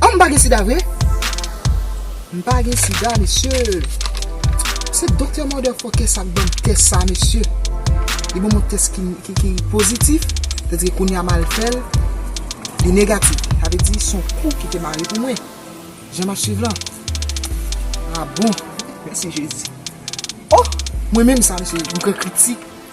An m pa gen sida vre? M pa gen sida mesye Se doktè motherfucker sa k banm tès sa mesye Li banm yon tès ki pozitif Sa vle di kounya m al fè l Li negatif Sa vle di son kou ki te mare pou mwen Jan m ap swiv lan A bon Mèsi Jezi Oh Mwen menm sa mesye M pran kritik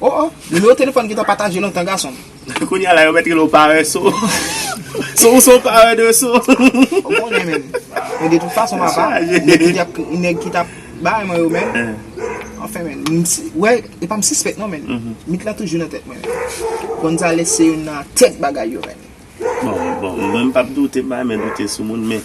Oh oh, nimewo telefòn gentan pataje lontan gason m. Kounya la yo mèt rele w pareso. So ou se yon paredeso. Ou konnen menm. Men de tout fason papa, nèg ki tap bay mwen yo menm, anfen menm, ou wè, e pa m sispèk non menm, mit lan toujou nan tèt mwen menm. Gonzalez se youn nan tèt bagay yo menm. Bon, bon, mwen m pap doute bagay men doute sou moun men.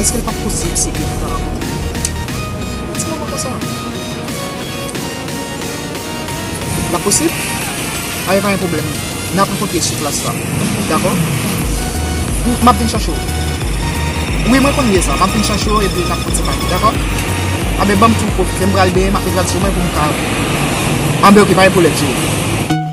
Eske l pap posib se gen tan anvan li mouri? Nan ti moman konsa? Lap posib? Ae pa gen pwoblèm. N ap rankontre sou plas la. Dakò? M ap vin chache w. Wi, mwen konn lye sa. M ap vin chache w epi n ap pran ti pale. Dakò? Anben ban m tou pwofite. M pral benyen m ap mete tradisyon mwen pou m ka. Anben ok, pa gen pwoblèm cheri.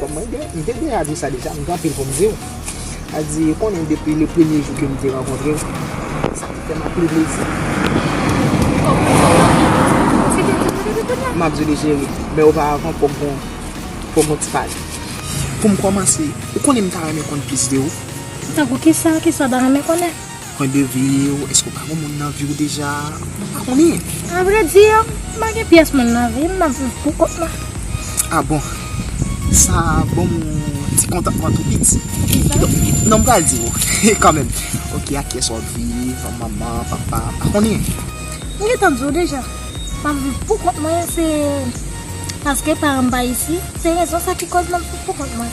Kòm mwen gen, m te deja di sa deja, m gen anpil pou m di w. Sa di, ou konnen depi le premye jou ke m te rankontre w, sa te fè m anpil plezi. Kòm mwen fè w anpil plezi, m ap kite w di m depi kounye a? M ap di w li cheri, men oparavan fòk gon, fòk gon ti pale. Pou m kòmanse, ou konnen m ta renmen konn plis de ou? Tankou kisa? Kisa w ta renmen konnen? Pwen de viw, eske w pa gon moun nan viw deja? Mwen pa konnen. A vre di, mwen pa gen pyès moun nan vim, map viv pou kont mwen. A bon. Sa banm yon ti kontantman tou piti. Kidonk, non m pral diw kanmenm. Ok, ak kiyès wap viv? Manman, papa, m pa konnen. M gentan diw deja. Map viv pou kont mwen se paske paran m pa isi, se rezon sa ki koz map viv pou kont mwen.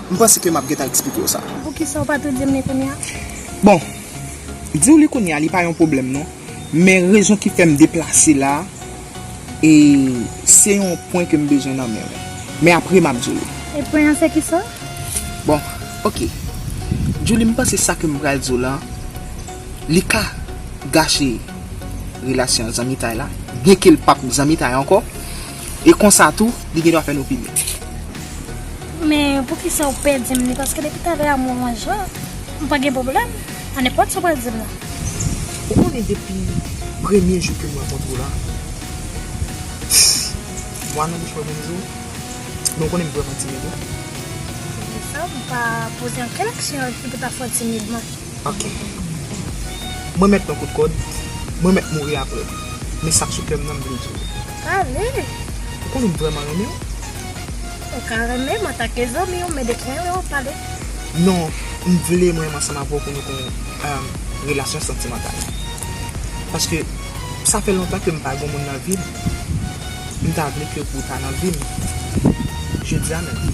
M panse ke map gentan eksplike w sa. Poukisa w pa tou di m li kounya? Bon, di w li kounya li pa yon pwoblèm non. Men rezon ki fè m deplase la, e se yon pwen ke m bezwen nan men w. Men apre map di w li. E pwen an se kisa? Bon, ok. Djoulie m panse sa ke m pral di w la, li ka gache relasyon zanmitay la, byenke l pap zanmitay ankò. E konsa tou, li gen dwa fè n opinyon. Men, poukisa ou pè di m li? Paske depi t avè amou anj la, m pa gen pwoblèm a nenpòt sa w pral di m la. Ou konnen depi premye jou ke m rankontre w la, mwa nan bouch mwen menm jan, men ou konnen m vrèman timid wi. Poukisa ou pa poze ankenn aksyon ki pou ta fè w timid man? Ok. Mwen mèt pran kout kòd, mwen mèt mouri aprè. Men sak sou kèm nan m vle diw. Sa vre? Ou konnen m vrèman renmenw. Ou ka renmenm antake zanmiw men de kwen yo pale. Non, m vle mwen ansanm avèw pou nou gen yon relasyon santimantal. Paske sa fè lontan ke m pa gen yon moun nan vim. M ta vle ke ou ta nan vim. Jodia menm.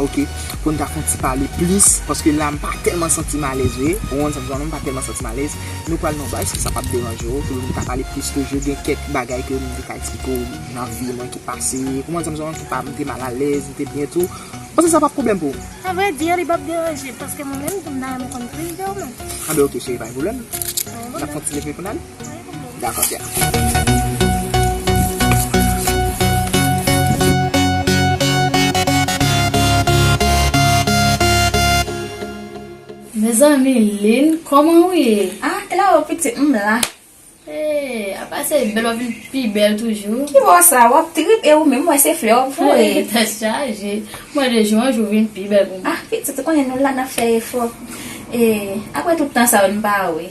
Ok pou n ta fon ti pale plis paske la m pa tèlman santi m alèz vre ou wè sa m di w la m pa tèlman santi m alèz nou pral nan yon bay èske sa pap deranje w pou m ta pale plis toujou gen kèk bagay ke m te ka eksplike w nan vi mwen ki pase ou wè sa m di w la ki pa m te mal alèz m te byen tou panse sa pap pwoblèm pou w a vrè di li pap deranje paske mwen menm tou m ta renmen konn plis de ou menm anben ok cheri pa gen pwoblèm n ap kontinye pou n ale. Mezanmi Lynn kòman ou ye? Ah Claro pitit m m la. Hey apa se bèl wap vin pi bèl toujou. Ki bò sa wap trip e ou menm m wè se flè wap voye. Tèt chaje mwen de jou an jou vin pi bèl pou mwen. Ah pitit ou konnen nou la nap fè efò e aprè tout tan sa yo n pa wè.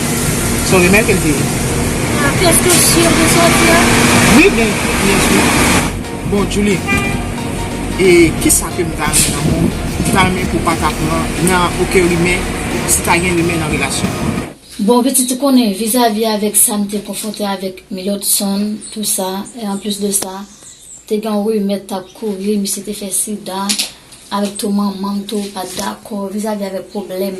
Son remè kel te ye. Ah klas te si yo te soti a. Wi gen yes wi. Bon Djoulie e kisa kem ta renmen nan mond m ta renmen pou pata pran nan oken rimè si ta gen rimè nan relasyon nou. Bon pitit ou konnen vizavi avèk sam te konfwonte avèk milord son tou sa e anplis de sa te gen yon rimè tap kouri misye te fè sida avèk tou manmanm tou pat dakò vizavi avèk pwoblèm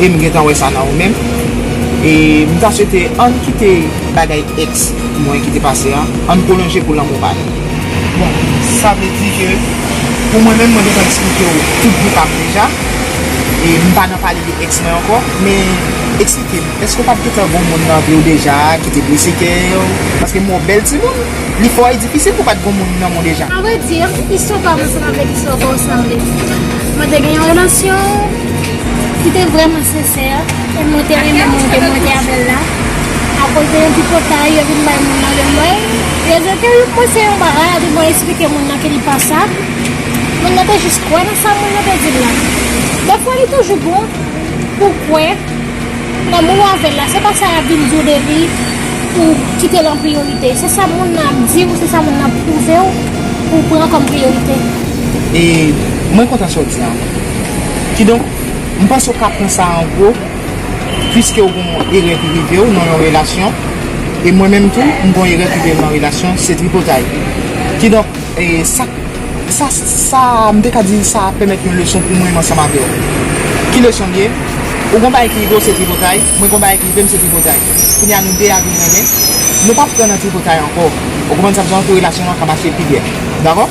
e m gentan wè sa nan ou menm e m ta swete ann kite bagay ex mwen ki te pase an ann pwolonje pou lanmou pa nou. Bon sa vle di ke pou mwen menm mwen gentan eksplike w tout vi pa m deja e m pa nan pale de ex mwen ankò men eksplike m èske w pat gentan gon moun nan vi w deja ki te blese kè w paske m wè w bèl timoun li fò e difisil pou pat gon moun nan men w deja. A vrai dire, istwa pa m lan se pa vrè istwa sa w sanble. Mwen te gen yon relasyon. Li te vrèman sensè e mwen te renmen moun te monte avè l la akoz de yon tripotay yo vin bay moun nan lè mwen yo di ke yo pwese yon bagay epi mwen esplike moun nan ke li pa sa moun nan te jis kwè nan sa moun nan te di l la defwa li toujou bon pou w kwè nan moun w avè l la se pa sa y ap vin di w depi pou w kite l an priyorite se sa moun nan ap di w se sa moun nan ap pwouve w pou w pran kòm priyorite. E mwen kontan sa w di an. Kidonk, m panse ou ka pran sa an gwo, piske ou gon yon erè ki rive ou nan yon relasyon, e mwen menm tou, m gon erè ki rive m nan relasyon, se tripotay. Kidonk, sa, sa, sa, m te ka di sa pèmèt yon leson pou mwen ansanm avè ou. Ki leson l ye? Ou gon bagay ki rive ou se tripotay, mwen gon bagay ki rive m se tripotay. Kounya nou de a vin renmen, nou pa pran nan tripotay ankò. Ou konprann sa m di w la pou relasyon an ka mache pi byen. Dakò?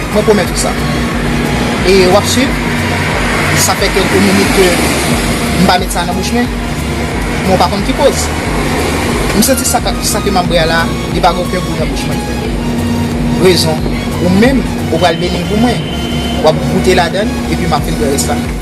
Mwen pwomèt ou sa. E wap swiv? Sa fè kelke minit ke m pa met sa nan bouch men. Mwen pa konn ki koz. M santi sa ka, sa ke map bwè a la, li pa gen oken gou nan bouch mwen. Rezon, ou menm, ou pral beni l pou mwen. Wap goute ladan l, epi map vin bwè rès la.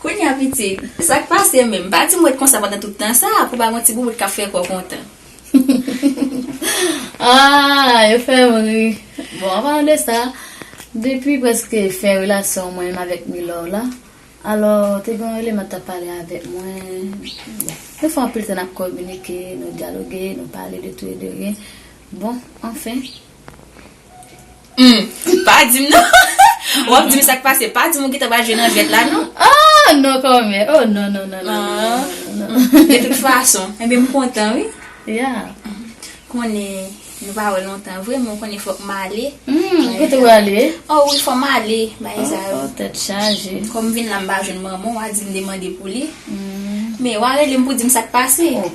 Kounya pitit, sa k pase menm? Pa di m ret konsa pandan tout tan sa a pou w pa gen yon ti boubout k ap fè kò w kontan. Aah yo fè m ri. Bon an palan de sa, depi prèske fen relasyon mwen menm avèk Milor la, alò te gen yon eleman t ap pale avèk mwen, bon nou fè anpil tan n ap kominike, nou dyaloge, nou pale de tou e de rien, bon anfen. Humm pa dim non wap dim sak pase pa dim ou gentan pral jwe nan jwèt la non. Aah non kòmè oh non non non non non non. De tout fason enben m kontan wi. Yeah. Konnen nou pa wè lontan vre men ou konnen fòk m ale. Humm kote ou ale? Oh wi fò m ale bagay sa yo. Oh tèt chaje. Kòm m vin la m pa jwenn manman w a di m demande pou li. Humm. Men wa rele m pou dim sak pase.